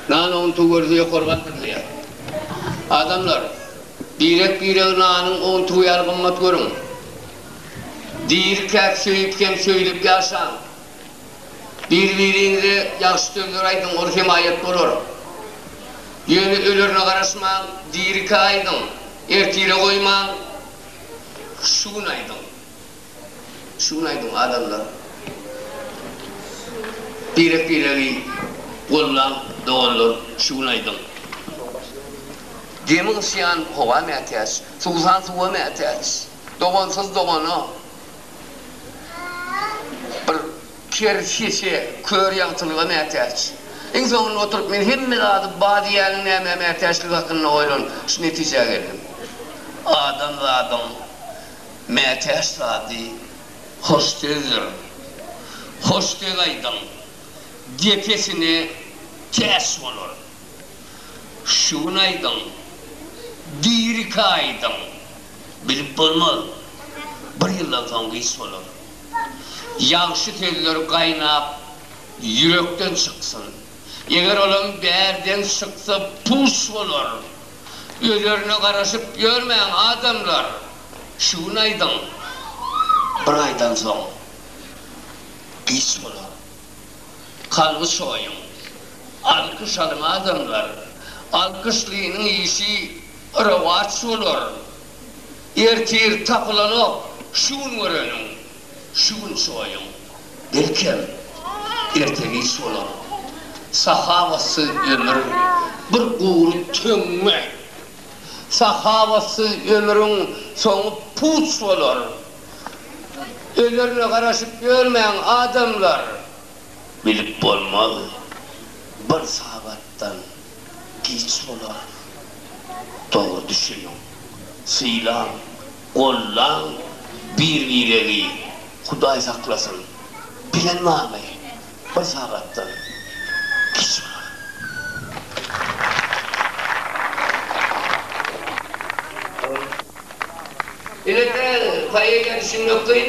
nano untugy görse ýokary galdyrylýa adamlar birek biregi nanyň untugy ýaly gymmat görüň dirikäk söýüp hem söýlüp ýaşaň. Bir-biriňize ýagşy sözler aýdyň, ol hemaýat bolar. Ýöne ölerine garaşmaň, dirikä aýdyň, ertire goýmaň, şu gün aýdyň. Şu gün aýdyň, adamlar. Birek-biregi gollaň, doganlar, şu gün aýdyň. Demi gysýan howa mätäç, suwsan suwa mätäç. Dogansyz dogana. Bir ker sesi kör ýagtylyga mätäç. Iň soňunda oturyp men hemme zady bar diýýäniň nämä mätäçligi hakynda oýlanyp, şu netijä geldim. Adam zadyň mätäç zady hoş sözdir. Hoş söz aýdyň, depesine täç bolar. Şu gün aýdyň, diri kaýdyň. Bilip bolmaz. Bir ýyldan soň giç bolar. Ýagşy sözler gaýnap, ýürekden çyksyn. Eger olam bärden çyksa, puç bolar. Özerine garaşyp ýörmäň, adamlar! Şu gün aýdyň. Bir aýdan soň giç bolar. Kalby çoýuň. Alkyş alyň, adamlar! Alkyşlynyň işi Rowaç bolar. Ertir tapylanok şu gün göreniň, şu gün çoýuň. Belkem, erte-giç bolar. Sahawatsyz ömür, bir gury töňňe. Sahawatsyz ömrüň soňy puç bolar. Ölerine garaşyp ýörmäň, adamlar! Bilip bolmaz bir sagatdan. giç bolar. Dogry düşüniň. Sylaň, gollaň bir-biregi. Hudaý saklasyn. Bilen barmy? Bir sagatdan giç bolar. Elbetde, poeziýa düşünmek kyn.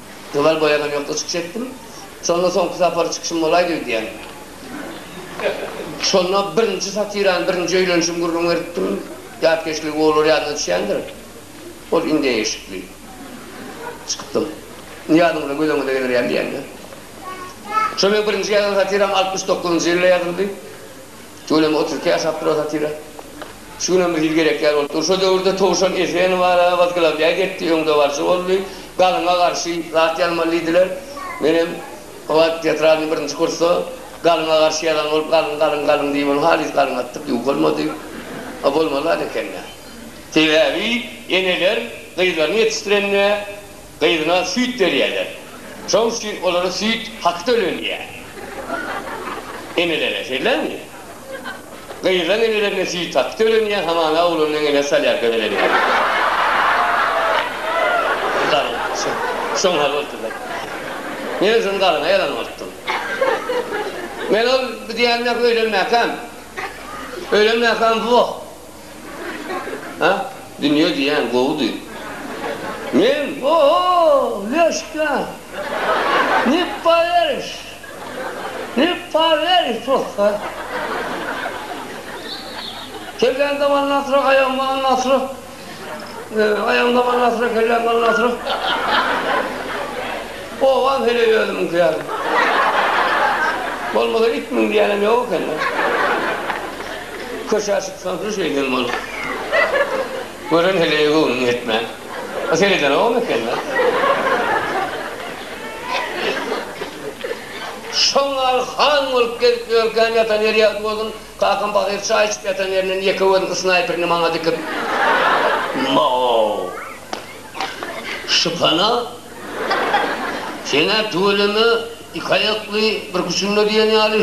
Gyzal boýagam ýokda çykyş etdim. Şonda soňky sapar çykyşym bolaýdy öýdýän. Şonda birinji satirany, birinji öýlenişimi gürrüň beripdim. Ýatkeşligi olar ýadyna düşýändir. Ol indem eşikli. Çykypdym. Nyýazyňyza gözeňize geler ýaly diýýän-dä. Şol meň birinji ýazan satiram altmyş dokuzynjy ýylda ýazyldy. Şu gün hem otyrka ýaşap durar satyra. Şu gün hem bir hili gerek ýaly bolup dur. Şo döwürde Towşan Eseni bar-a, Wazglawiaý getdi, öňdebaryjy boldy. Galyňa garşy zat ýazmaly diýdiler. Men hem o wagt teatralnyý birinji kursda Galyňa garşy ýazan bolup, Galyň, galyň, galyň diýip, ony halys galyň atdyk, ýuwuk bolmady. A bolmaly zat eken-dä. Sebäbi eneler gyzlaryny ýetişdirende gyzyna süýt berýärler. Şoň üçin olara süýt haky tölenýär. Enelere, şeýdämi? Gyzlaň enelerine süýt haky tölenýär, hamana oglanyň eneleri salýar gözelelere. Galyň, şoň haly bolupdyr-da. Men özüm galyňa ýalan bolupdym. Men ol bu diýýänini-ä öýlenmäkäm. Öýlenmäkäm, woh! Ha, dünýe diýýän gowudy. Men, O-ho, Leşka! Ne powerişt! Ne powerişt prosta! Kellän daman nasyra, aýagym daman nasyra. Aýagym daman nasyra, kellän daman nasyra. Owaz heleý özümiňki ýaly. Bolmasa it müň diýenem ýok ekeni. Köşä çyksaňsyz şeýdem bolar. Gören heleýe göwnüň ýetmän. A seredenogam ekeni. Şoň ýaly han bolup gezip ýörkäm ýatan ýeri ýagty bolsun, kakam pahyr çaý içip ýatan ýerinden ýeke gözüni snaýperini maňa dikip, Maw! Şypana Sen-ä tüweleme, iki aýakly, bir küçünde diýen ýaly.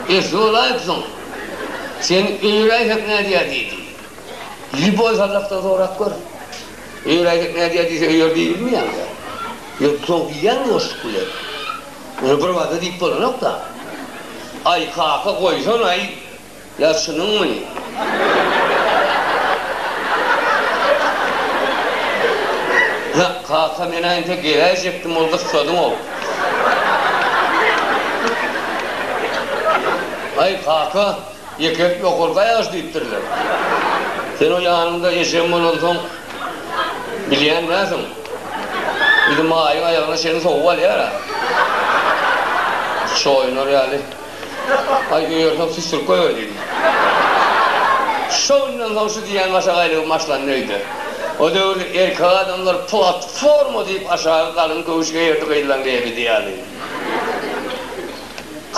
Esli bolaýypsyň. Sen öýräýsek nädýär diýdi. Lýuboý Sazakdan sorap gör. Öýräýsek nädýär diýse öýer diýilmi ýa-da? Ýok, soň diýýärmi boşluk bilen? Muny birbada diýip bolanok-da. Aý, kaka, goýsana-aý! Ýa şunuňmy? Ýok, kaka, men-ä entek geräýjekdim, ol gyssadyň-ow. Aý, kaka, ýekelik ýokarky aýagy diýipdirler. Sen o ýanyňda ejem bolansoň, bilýän näsiň? Bizimaýyň aýagyna çenli sowup alýar-a. Çoýunar ýaly. Aý, öýerseň süsdürip goýber diýdi. Şo günden soň şu diýýän maşagaýlygym başlandy öýde. O döwür erkek adamlar platforma diýip aşagy galyň göwüş geýerdi gyzlaň lebidi ýaly.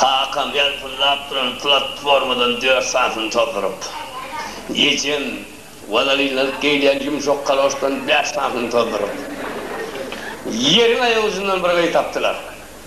Kakam ýalpyldap duran platformadan dört sanysyny tozduryp, ejem walalinlanyp geýilýän ýumşak kaloşdan bäş sanysyny tozduryp, ýeriň aýagujundan bir gyz tapdylar.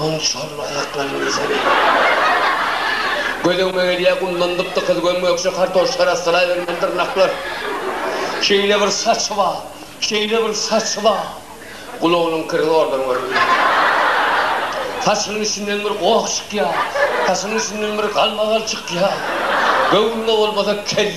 Onuň şu hylly aýaklaryny bilsene. Gözüňe gelýär, gumdan gyp-gykyz göm-gökje kartoşka arassalaybermeli dyrnaklar. Şeýle bir saçy bar, şeýle bir saçy bar. Gulagynyň kiri zordan görünýär. Saçynyň içinden bir goh çykýar, saçynyň içinden bir galmagal çykýar. Göwnüne bolmasa, kel.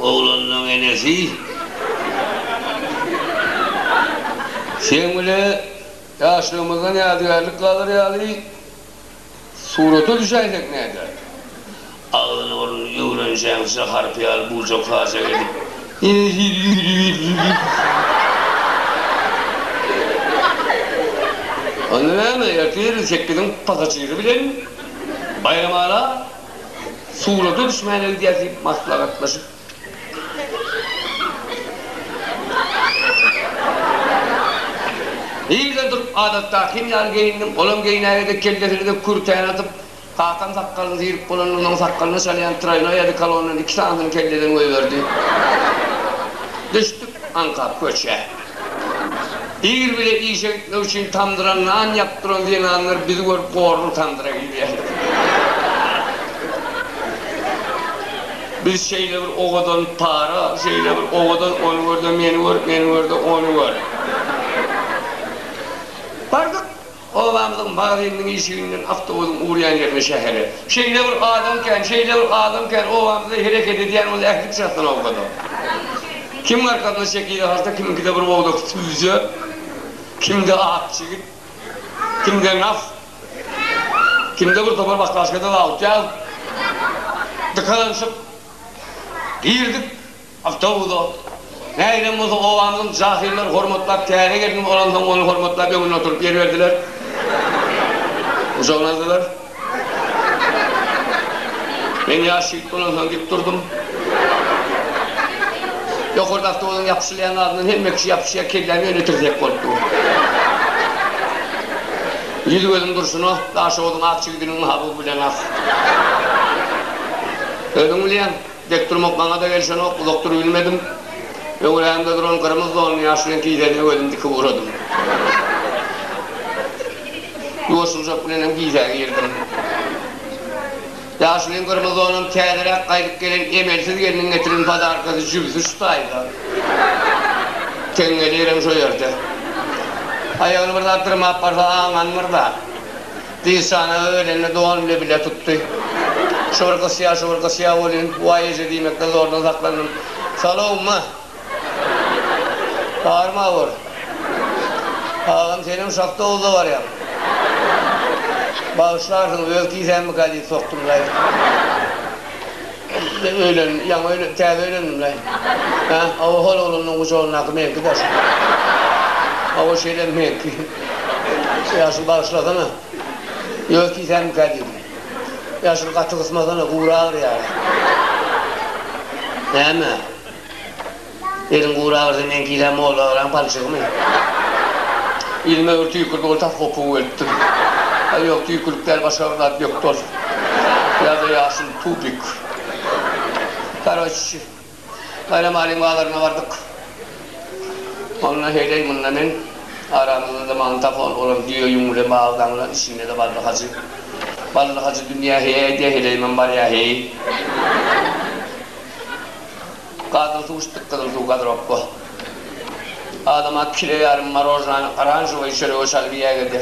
Oglanlaň enesi seň bile ýaşlygymyzdan ýadygärlik galar ýaly surata düşäýsek näder? Agzyny burnuny öwrenjeňçe harp ýaly bujakajak edip enesini ýüwüdiberdi. Onda näme, ertir sekiziň pasajiri bilen Baýramala Suwlada düşmäne gidýäs diýip maslahatlaşyp Yza durup adatdakym ýaly geýindim. Olam geýnäge-de, kellesine-de kürtäni atyp, kakam sakgalyny syryp bolandan soň sakgalyna çalýan traýnoý odekolondan iki sanysyny kelleden goýberdi. Düşdük aňka köçä. Ýer bile işe gitmek üçin tamdyra nan ýapyp duran zenanlar bizi görüp gorluň tamdyra girýärler. Biz şeýle bir owadan para, şeýle bir owadan ony gör-de meni gör, meni gör-de ony gör. Bardyk. Obamyzyň magazyniniň işiginden awtobusyň urýan ýerine şähele. Şeýle bir adam kän, şeýle bir adam kän, obamyzda hereket edýän bol ähli pyçakdan owkada. Kimiň arkasyna çekije harta, kimiňkide bir owdak süýje, kimde ak çigit, kimde naf, kimde bir topar baklaşkada zawut ýag. Dykalanyşyp girdik. Awtobusda nägilem bolsa gowamyzyň jahyllar hormatlap täze gelnim olansoň ony hormatlap öňünde oturyp ýer berdiler. Gujagyna aldylar. Men ýaş ýigit bolansoň dik durdum. Ýokarda awtobusyň ýapyşylýan zadyndan hemme kişi ýapyşýar kelläm ýöne tirsek bolup dur. Ýüz gözüm durşuna Daşoguzyň ak jigidiniň mahabuby bilen ak. Özüň bilýäň. Dek durmak maňa-da gelişenok, uzak durubilmedim. Öňrämde duran gyrmyz donly ýaş bilen kiýsäniň öwezini dikip ugradym. Ýuwaşyljak bilenem kiýsäge girdim. Ýaş bilen gyrmyz donam täzeräk gaýdyp gelen emelsiz gelniň getiren podarkasy jübüsi şu taýda. Teňňeli ýerem şo ýerde. Aýagyny bir zat dyrmap barsa aňanmyr-da. Dişana öýlende dogan bile bile tutdy. Şu bir gysýa, şu bir gysýa bolýun. Waý eje diýmekden zordan saklandym. Salow ma! Bary mawr. Agam senem şahta owda barýaň. Bagyşlarsyňyz öz kisämmi galyt sokdum daýy. Indi öýlendim, ýaňy öýlendim, täze öýlendim-le. Hä? Hawa, hol oglanlaryň gujagyndaky meňki daş. Hawa, şeýle meňki. Ýaşuly bagyşlasana. Ýöne tisämmikä diýdim. Ýaşuly gaty gysmasana, gury agyrýar-a. Näme? Eliň gury agyrsa meňkilä molla agyran palçygymy? Ýüzüme öwür tüýkürdi ol tas gopugy bölüpdir. Aý ýok tüýkürlik däl başga bir zat bökdi ol. Ýa-da ýaşyl tubik. Karoçi Baýram Alyň bazaryna bardyk. Onda heýleý munda men aramyzda-da magnitofon bolan düýe ýüň bilen bagdaňlan içinde-de Bally Hajy. Bally Hajy dünýä heý aýdýa heleýimem barýa heý. Gazyl suw içdik gyzyl suw gadyropba. Adama kile ýarym marojnany oranžowyy çörege çalyp iýäge de.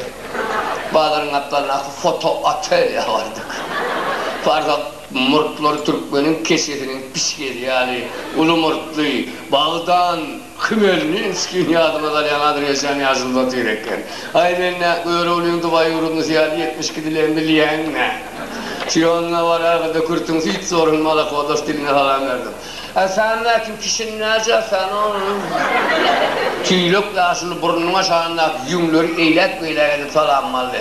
Bazaryň gapdalyndaky foto otelýa bardyk. Farhad murtlary türkmeniň keçesiniň pişgeli ýaly uly murtly, bagdan, Hmelninskiň ýadyma salýan Adreşjan ýaşyl batyr eken. Aý men-ä Göroglyň Dubaý ýurdundysy ýaly ýetmiş gidilen bilýäň-ä. Siýonna baragyrda kürtüň süýt zorun malakodos diline salam berdim. Ä sen mäkim kişini näce sen onuň? Tüýlek ýaşyl burnunyň aşagyndaky ýüňleri eýläk-beýläk edip salamym aldy.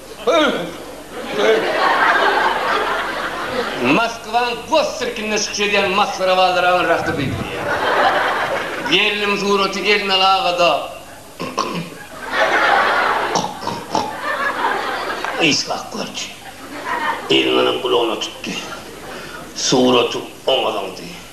Moskwanyň gos sirkinde çykyş edýän masgara balaryň rakyby. Gelnim suraty Elmel agada. Yshak gördi. Elmeliň gulagyna tutdy. Suraty oňa zyňdy.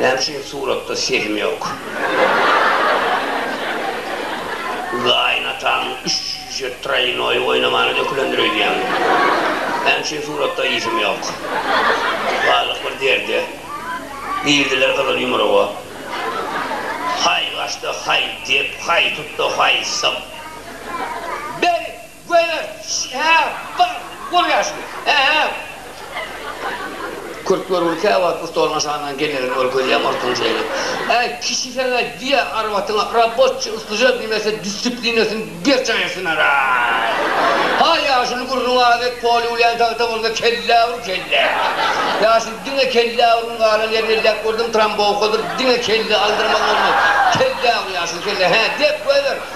Näme üçin suratda sesim ýok? Gaýynatamyň üç jüýje traýnoýy oýnamany dökülendir öýdýän. Näme üçin suratda ýsym ýok? Galdyk bir derde. Girdiler gyzyl ýumruga. Haý gaçdy, haý dep, haý tutdy, haý syp. Beri! Göýä şi-hä bar, bolýar şuny, ä-ä! Kürt görgüli käwagt bu stoluň aşagyndan gelmegini ol gözleýär, murtuny çeýelip. Äý, kişi seňä diýýä, arwatyňa, Rabotçi, uslyja, diýmese, disiplinasini berjaýetsinaraý! Haý, ýaşuly gürrüňi az et, poly ulýan tagta bolsa kellä ur, kellä! Ýaşuly, diňe kellä urgyn galan ýerini elläp gördüm, trombowkadyr, diňe kelle aldyrmaly bolmaz. Kellä ur, ýaşuly, kellä, hä, dep, göýber!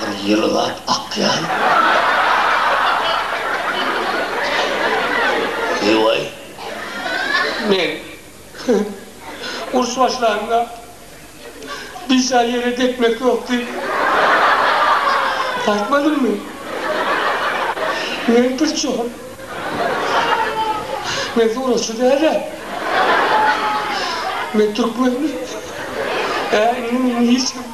Bir ýylgap akýan Liwaý. Men uruş başlanda biçä ýere depmek ýok diýip aýtmadymmy? Men pirçol. Men suratçy dälä. Men türkmen. Hä, indi meni hiç kim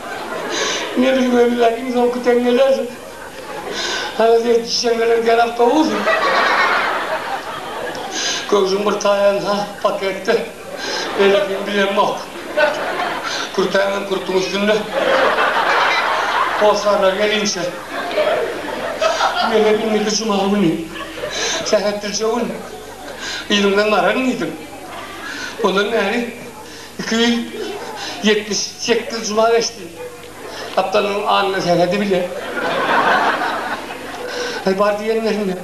Meniň öňümdäki iň soňky teňňeler. Halas etmiş teňňeler gerek dowul. Köwşüň bir taýanha paketde. Beýlekini bilemok. Kürtäňem kürtüň üstünde. Hossarlar gelinçe. Menem indiki juma güni. Sähetdirje gün yzyňdan garan diýdim. Ondan bäri. Iki ýüz ýetmiş sekiz juma geçdi. Gapdalymyň alnyna seredi bile. Aý, bar diýenlerinde,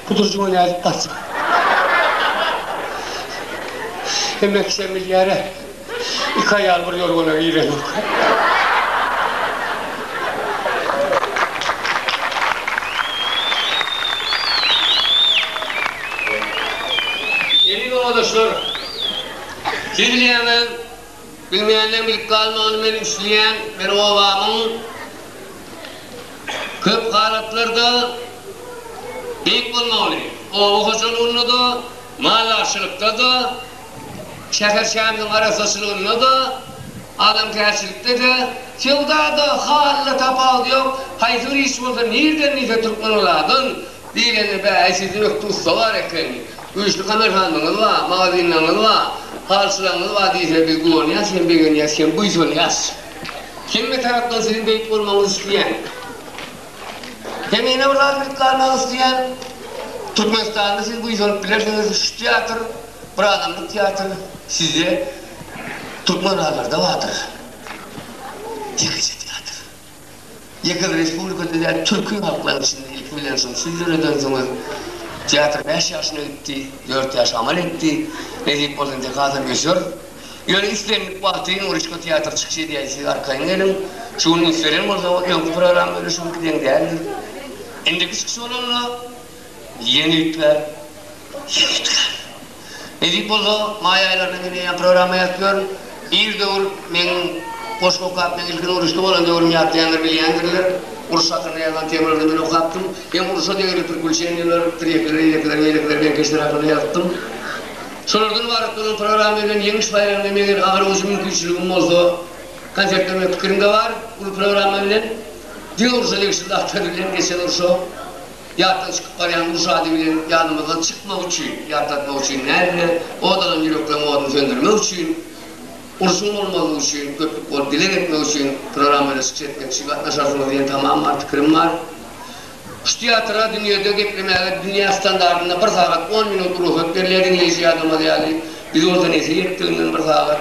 bu durjuňa nädip barjak? Hemme kişä bilýär-ä, iki aýal bir ýorgana girenok. Siz bilýäňiz, bilmeýänleriň bilip galmagyny men isleýän, men obamyň köp halatlarda beýik bolmagyny, oba hojalygynda-da, maldarçylykda-da, şäher-şämligiň arassaçylygynda-da, adamkärçilikde-de, söwda-da, halyda tapawudy ýok, haýsy bir iş bolsa nirden diýse türkmen olardan, Diýlende, Bä-äý, siziň ökde ussa bar eken, güýçli kamerhanaňyz bar, magazinleriňiz bar, halyçylaryňyz bar diýsene, biz guwanýas hem begenýäs hem buýsanýas. Hemme tarapdan siziň beýik bolmagyňyzy isleýän. Hem ýene bir zat bilip galmagy isleýän, Türkmenistanda siz buýsanyp bilersiňiz, şu teatr, bir adamlyk teatr, sizde Türkmenbazarda bardyr. Ýekeje teatr. Ýeke-bir respublikada däl, türki halklaryň içinde ilki bilen şol söz ýöredensoňy, Teatr bäş ýaşyna gitdi, dört ýaş amal etdi, nesip bolsa indi hasam öser. Ýöne islendik wagty Nuryşka teatr çykyş edýär, siz arkaýyn geliň. Şu gün üns beren bolsa, ol öňki program bilen şu günki deň däldir. Indiki çykyş bolanda ýene üýtgär, ýene üýtgär. Nesip bolsa, maý aýlaryna men eýýäm programma ýazyp ýörün. Bir döwür meň goşgy okap, meň ilkinji uruşda bolan döwrümi ýatlaýanlar bilýändirler. Uruş hakynda ýazylan temalarda men okapdym. Hem uruşa degeli prikuluçeniýalar, tirekleri, ýelekleri, meýlekleri, beňkeşleri hakynda ýazypdym. Şolardan ybarat bolan programma bilen Ýeňiş baýramyna meger agyr-ujy mümkinçiligim bolsa, konsert bermek pikirimde bar. Uly programma bilen diňe uruşa degişli zatlar bilen, geçen urşa Ýatdan çykyp barýan uruş ady bilen ýadymyzdan çykmak üçin, ýatlatmak üçin nädine, ot alan ýürekleriň oduny söndürmek üçin, urşuň bolmazlygy üçin, köplük bolup dileg etmek üçin programmany çykyş etmek üçin gatnaşarsyňyz diýen tamam bar pikirim bar. Şu teatra dünýede geplemäge dünýä standartynda bir sagat on minut rugsat berilýär, diňleýji ýadamaz ýaly. Biz bolsa nesip etdiginden bir sagat.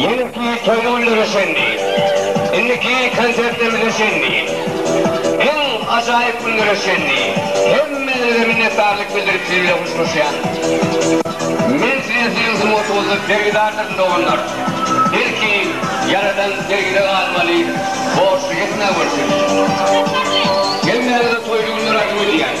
Ýeňki toý günlere çenli, indiki konsertlerimize çenli, iň ajaýyp günlere çenli hemmäňize minnetdarlyk bildirip siz bilen huşlaşýan. Men size siziň sungatyňyzda bergidardyryn doganlar. Belki Ýaradan bergide galmaly borçly etmän görsün. Hemmäňize toýly günler arzuw edýän.